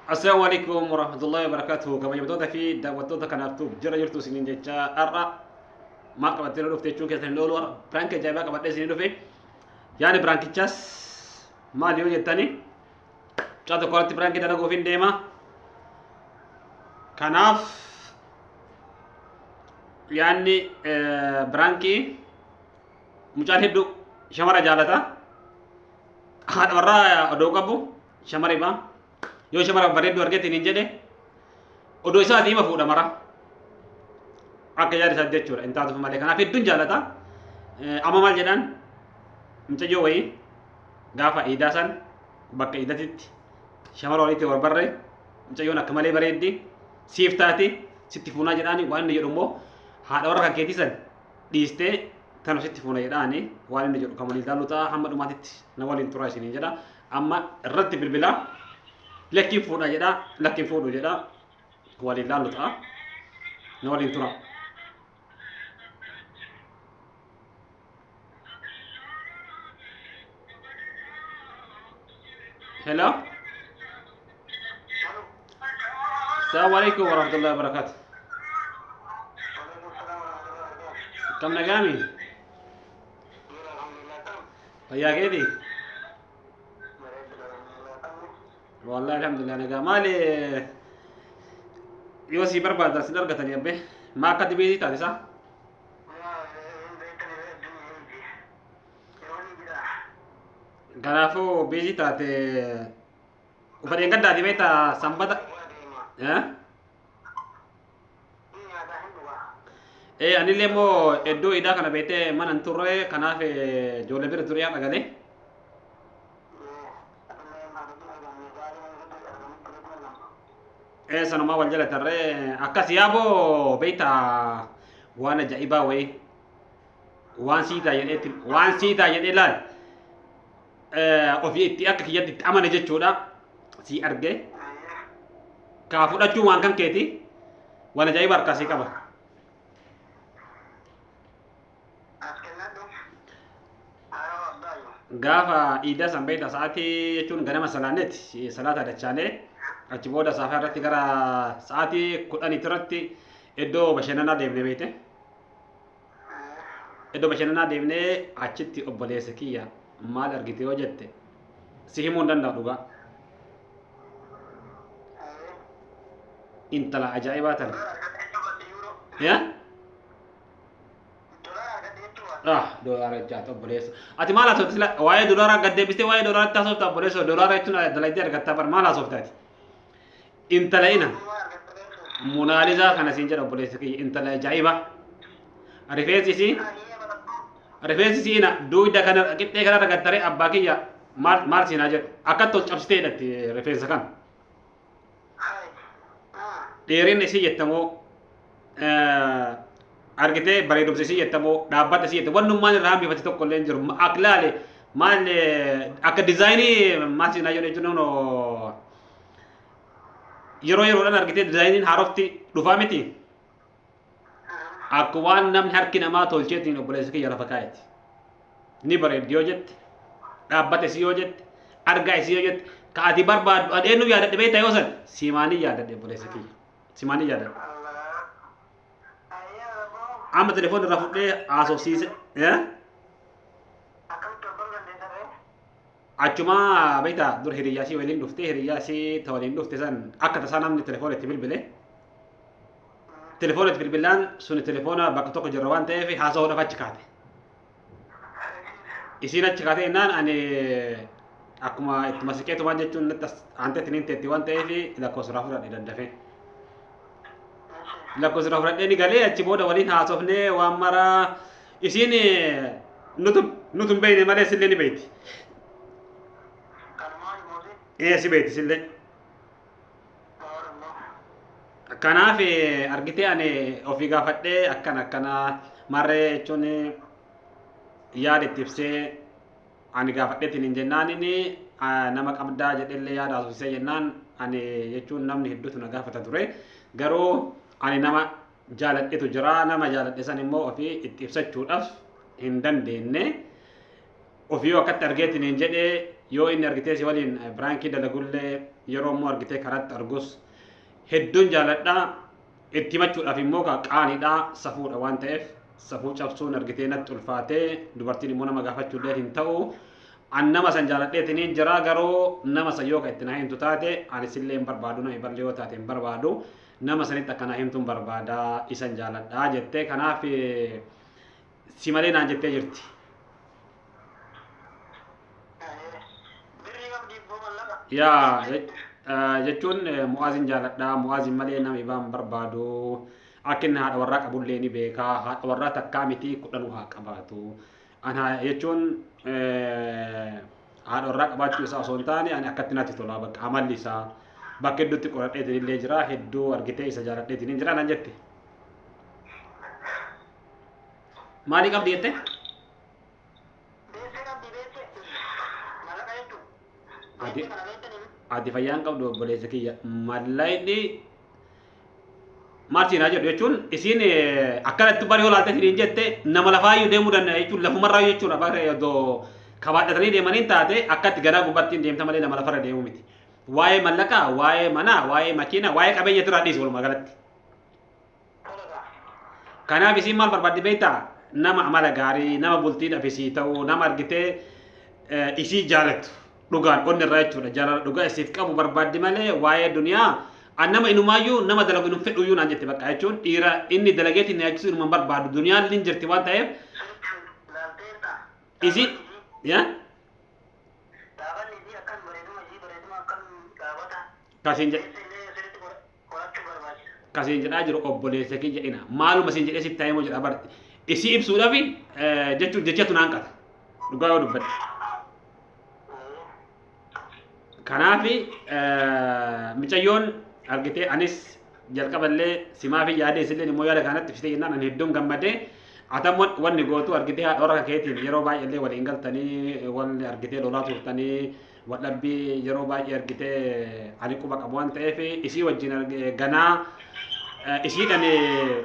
Assalamu alaikum warahmatullahi wabarakatuh. Kabajamtoota fi daawwattoota kanaaf tuuf jira jirtu isiniin jecha har'a maal qabattee nu dhufte jechuun keessan hin oolu har'a piraank ajaa'ibaa qabadhee isinii dhufe. Yaani piraankichaas maal yoo jettani mucaa tokko irratti piraankii dalaguuf hin deema. Kanaaf yaanni piraankii mucaan heddu shamara jaalata haadha warraa odoo qabu shamari baa yoo shamara bareeddu argetiin hin jedhe odoo isaa diima fuudha mara akka yaada isaa jechuudha hin taatuuf malee kanaaf hedduun jaalata amma maal jedhaan mucayyoo wayii gaafa iidaa san bakka iidatitti shamara walitti barbarre mucayyoon akka malee bareeddi siif taate sitti fuunaa jedhaani waan inni jedhu immoo haadha warra kan keetii san dhiistee tanu sitti fuuna jedhaani waan inni jedhu kan waliin ilaallu ta'a hamma dhumaatitti na waliin turaa isiniin jedha amma irratti bilbilaa lakkiin fuudha jedha lakkiin fuudhu jedha waliin ilaallu ta'a na waliin turaa. Hello. Assalamu alaikum warahmatullahi wabarakatuh. Kam nagami? Fayyaa keeti? Wallahi alhamdulillah nagaa. Maali yoo si barbaadan sin argatani abbe? Maa akka dibeetii taate isaa? Kanaafuu biizii taate ufa dheengaddaati beekta sanbata. Eh? Ee anillee immoo iddoo idaa kana beektee mana hin turre kanaaf eh, ijoollee bira turee haadha galee. Ee sanumaa wal jala tarree akkas yaaboo beekta waan ajaa'ibaa wayii. waan sii ta'a jedhee itti- waan sii ta'a jedhee laal eh, ofii itti akka kiyyatti itti amane jechuudha sii argee kaa fudhachuun waan kan keeti waan ajaa'iba harkaa sii qaba gaafa iidaa san beekta sa'aatii jechuun ganama salaaneeti salaata dachaanee achi booda saafaa irratti gara sa'aatii kudhaniitti irratti iddoo bashannanaa deemnee beekte Iddoo bashannanaa deemnee achitti obboleessa kiyya maal argite yoo jette si himuu hin danda'u dhugaa. Intala ajaa'ibaa tana. Ya? Ah, doolaara jaata obboleessa. Ati maal haasofte sila waa'ee doolaaraa gad deebistee waa'ee doolaaraatti haasofta obboleessa doolaara jechuun dalaydee argattaa bar maal haasofte ati? intala ina munaalizaa kana siin jedha obboleessa kiyya intala ajaa'iba rifeensi isii rifeensi isii ina duuyda kana qixxee kana ragattare abbaa kiyya maal maal siin haa jedhu akkatti ol cabsitee hidhatti rifeensa kana dheerinni isii jettamoo argitee bareedumsa isii jettamoo dhaabbata isii jettamoo wannummaan irraa hambifate tokko illee hin jiru akhlaale maal akka dizaayinii maal siin haa jedhu jechuun yeroo yeroodhaan argitee dizaayiniin haarofti dhufaa miti akka waan namni harki namaa tolcheetiin obboleessa kiyya lafa kaa'eeti ni bareeddi yoo jette dhaabbata isii yoo jette argaa isii yoo jette ka ati barbaaddu an eenyu yaadadhe beekta yoo san simaanii yaadadhe obboleessa kiyya simaanii yaadadhe amma telefoon irraa fudhee haasofsiise eh? Achumaa beektaa dur hiriyyaa isii waliin dhuftee hiriyyaa isii ta waliin dhufte san akka tasaa namni telefoona itti bilbile. Telefoona itti bilbilaan suni telefoona bakka tokko jirra waan ta'eef haasa'uudhaaf achi kaate. Isiin achi kaatee innaan ani akkuma itti masiqeetumaan jechuun natti as- aantee tiniin teetti waan ta'eef lakkoofsa irraa fudhadhe daddafee. Lakkoofsa irraa fudhadhee ni galee achi booda waliin haasofnee waan maraa isiin nutu nutu hin beeyne malee sillee ni beeyti Kanumaan mootii ee si beeyti sillee Oromoo. kanaaf eh, argitee ani ofii gaafadhee akkana akkana marree jechuun yaada itti ibsee ani gaafadheetiin hin jennaan inni ah, nama qabdaa jedhellee yaada haasofsisee jennaan ani jechuun namni hedduutu na gaafata ture garuu ani nama jaaladhetu jira nama jaaladhe san immoo ofii itti ibsachuudhaaf hin dandeenye ofii yoo akkatti argeetiin hin jedhe yoo inni argitee si waliin biraankii dalagullee yeroo immoo argitee karatti argus hedduun jaaladha itti himachuudhaaf immoo qaanidha safuudha waan ta'eef safuu cabsuun argitee natti ulfaatee dubartiin immoo nama gaafachuullee hin ta'u an nama san jaaladheetiin jira garuu nama san yoo ka itti na himtu taate ani sillee hin barbaadu nama ballee yoo taate hin barbaadu Nama sanitti akkana himtuun barbaada isan jaaladha jettee kanaaf si malee naan jettee jirti. Birrii qabdi ibboo mallaqa. Yaa je- eh, jechuun eh, mu'aaziin jaaladha mu'aaziin malee nama ibaan barbaadu akka inni haadha warraa qabullee ni beeka haadha warraa takkaa miti kudhanuu haa qabaatu Ana jechuun haadha warraa qabaachuu isaa osoo hin taane ani akkatti natti tola bakka amalli isaa bakka hedduutti qoradheetiin illee jira hedduu argitee isa jaaladheetiin hin jira nan jette. Maalii qabdi jette? Adi fayyaan qabdu obboleessa kiyya mallayni maal siin haa jedhu jechuun isiin akkanatti bari olaaltee firiin jette nama lafaayyuu deemuu danda'a jechuun lafumarraa jechuudha barree odoo kabaadhatanii deemaniin taate akkatti gadaa gubbattiin deemta malee nama lafarra deemuu miti. Waa'ee mallaqaa, waa'ee manaa, waa'ee makiinaa, waa'ee qabeenya irraa dhiisu walumaa galatti. Kanaaf isiin maal barbaaddi beektaa? Nama amala gaarii, nama bultii dhabisii ta'u, nama argitee isii jaalatu. dhugaan onni irraa jechuudha jaalala dhugaa isiif qabu barbaaddi malee waa'ee duniyaa an nama inumaayyuu nama dalagu inum fedhuyyuu naan jette bakka jechuun dhiira inni dalageetiin na yaachisu inuma hin barbaadu duniyaan illee hin jirti waan ta'eef isi yaa Gaafanni isii akkan bareeduma isii bareeduma akkan gaafata. kasiin jedhe Keessi illee sirriitti godha. qorachuu barbaachisa. Ka siin jedhaa jiru obboleessa kiyya ina maaluma siin jedhee sitti himuu jedha barti isii ibsuudhaaf jechuun jechatu naan qata dhugaa yoo dubbadhe. Kanaaf micayyoon argitee anis jalqaballee simaaf yaadee isillee immoo yaada kanatti fitee jennaan ani hedduun gammadee atammo wanni gootu argitee haadha warra keetiin yeroo baay'eellee waliin galtanii wanni argitee lolaa turtanii Waldhabbii yeroo baay'ee argite ani quba qabu waan ta'eef isii wajjin arge- ganaa eh, isiidhaan eh,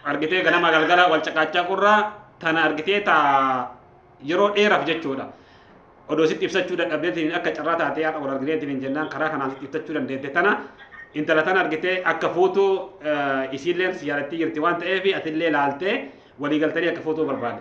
argitee ganama galgala wal caqaachaa qurra tana argitee ta yeroo dheeraaf jechuudha. Odoo sitti ibsachuu dadhabdeetiin akka carraa taatee haadha wal argineetiin hin jennaan karaa kanaan sitti ibsachuu dandeette tana intala tana argitee akka fuutu eh, isiilleen si yaadattii jirti waan ta'eef atillee laaltee walii galtanii akka fuutuu barbaade.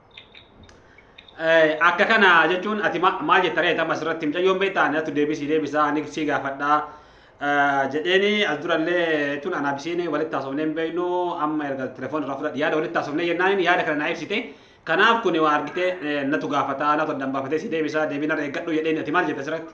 Akka kana jechuun ati maal jetta reeta amma asirratti mucayyoon beektaa ani atu deebisii deebisaa ani sii gaafadhaa jedheeni as durallee tun anaa bisiin walitti haasofnee hin beeknu amma erga telefoon irraa fudhadhe yaada walitti haasofnee jennaan yaada kana naa ibsite kanaaf kun waa argitee natu gaafataa natu addaan baafatee si deebisaa deebiin irra eeggadhu jedheeni ati maal jetta asirratti?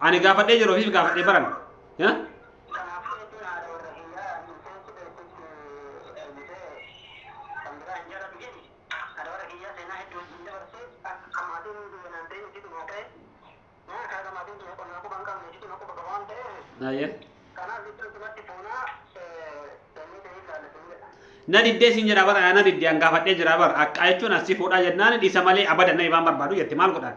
Ani gaafadhee jiru ofiif gaafadhee baran. Ya? Aye. Na diddee siin jedha bara na diddee an gaafadhee jira bara akka jechuun asii fuudhaa jennaan dhiisa malee abada na ibaan barbaadu jette maal godhaan.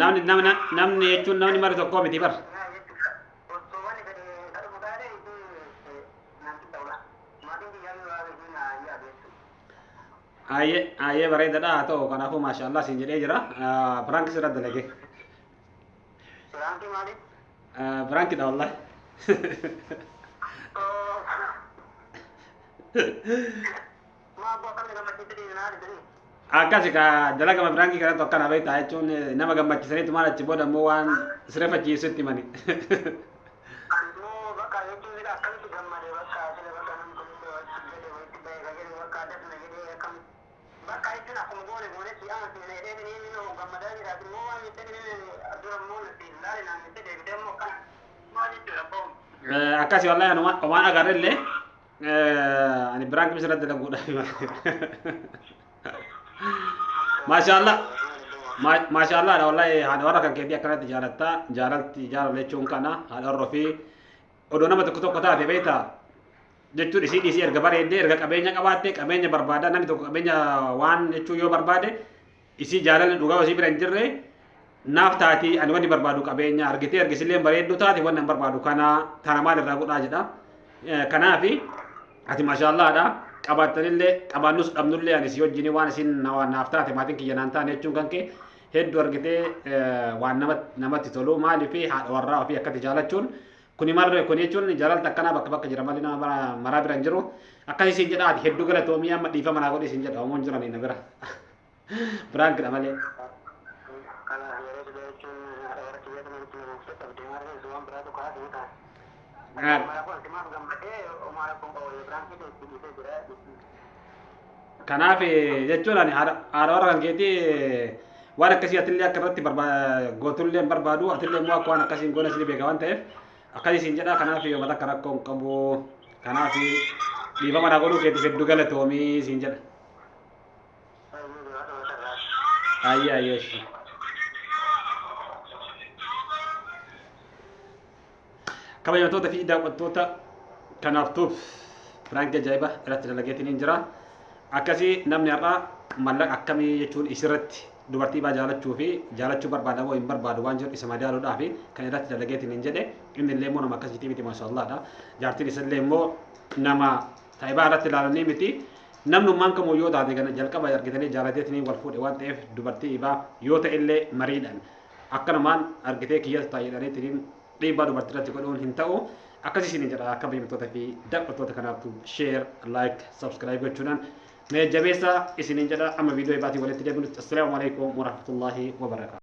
Namni namni namni jechuun namni mara tokkoo miti bar. Aayee aayee bareedadha haa ta'u kanaafuu maashaallah siin jedhee jira. Piraanki sirra dalage. Piraankidha wallahi. akkasi ka dalagama biraangii kanatu akkana beektaa jechuun eh, nama gammachisaniitu maal achi booda immoo waan sirefachiisu itti mani Eh, akkasi wallahi anuma waan agarrellee Eh, Ani biraan qimisa irratti dalaguudhaaf. Maashaallah. Ma- Maashaallah dha wallahi haadha warra kan keetii akkanatti jaalatta jaalalti jaalala jechuun kana haadha warra ofii odoo nama tokko tokko taate beekta jechuun isii dhiisii erga bareeddee erga qabeenya qabaatte qabeenya barbaada namni tokko qabeenya waan jechuu yoo barbaade Isii jaalalli dhugaa isii bira hin jirre naaf taati ani wanni barbaadu qabeenya argitee argisillee bareedduu taate wanni an barbaadu kana tana maal irraa godhaa jedha. Eh, Kanaafi ati mashaallaadha qabaattanillee qabaannus dhabnullee ani si wajjin waan isin na- naaf taate maatiin kiyya naan taane jechuun kan kee hedduu argitee eh, waan nama- namatti tolu maaliif haadha warraa ofii akkatti jaalachuun kuni marre kuni jechuun jaalalta akkanaa bakka bakka jira malee nama bara- maraa bira hin jiru akkasii siin jedha ati hedduu galatoomii amma dhiifama naa godhi siin jedha homoon jiranii na bira. Piraank dha malee. Kana yeroo dibee jechuun warra kiyya kana nutti namuufte qabdee maal keessu waan biraa tokko haasa'u ta'a. Gaar. Umaara kun itti maaf gammadee umaara kun qawwa yoo biraan kee itti dhiisee jira. Kanaaf eh, jechuun ani haadha haadha warra kan keetii eh, waan akkasii atillee akka irratti barba- gootullee hin barbaadu atillee immoo akka waan akkasii hin goone isin beeka waan ta'eef akkasii isin jedha kanaaf yoo mata akka rakkoo hin qabu kanaaf dhiifama naa godhuu keetiif hedduu galatoomii isin jedha. Ayyee ayyee ishii. Kabajamtoota fi daawwattoota kanaaf tuuf piraank ajaa'iba irratti dalageetiin hin jira. Akkasii namni har'aa mallaqa akkamii jechuun isirratti dubartii baa jaalachuu fi jaalachuu barbaada moo hin barbaadu waan jedhu isa madaaluudhaa fi kan irratti dalageetiin hin jedhe inni illee immoo nama akkasiitii miti maashaallaadha. Jaartiin isa illee immoo nama Saibaa irratti ilaalanii miti namnummaan kamuu yoo taate gana jalqaba argitanii jaalateetiniin wal fuudhe waan ta'eef dubartii ibaa yoo ta'e illee mariidhaan akkanumaan argitee kiyyas taa'eedhaniitiniin dhiibbaa dubartii irratti godhuun hin ta'u akkasii isin jedha akka beekamtoota fi daawwattoota kanaaftu share like subscribe gochuudhaan mee jabeessa isiniin jedha amma viidiyoo ibaatii walitti deebinutti assalaamu alaikum warahmatullaahi wabarakaatu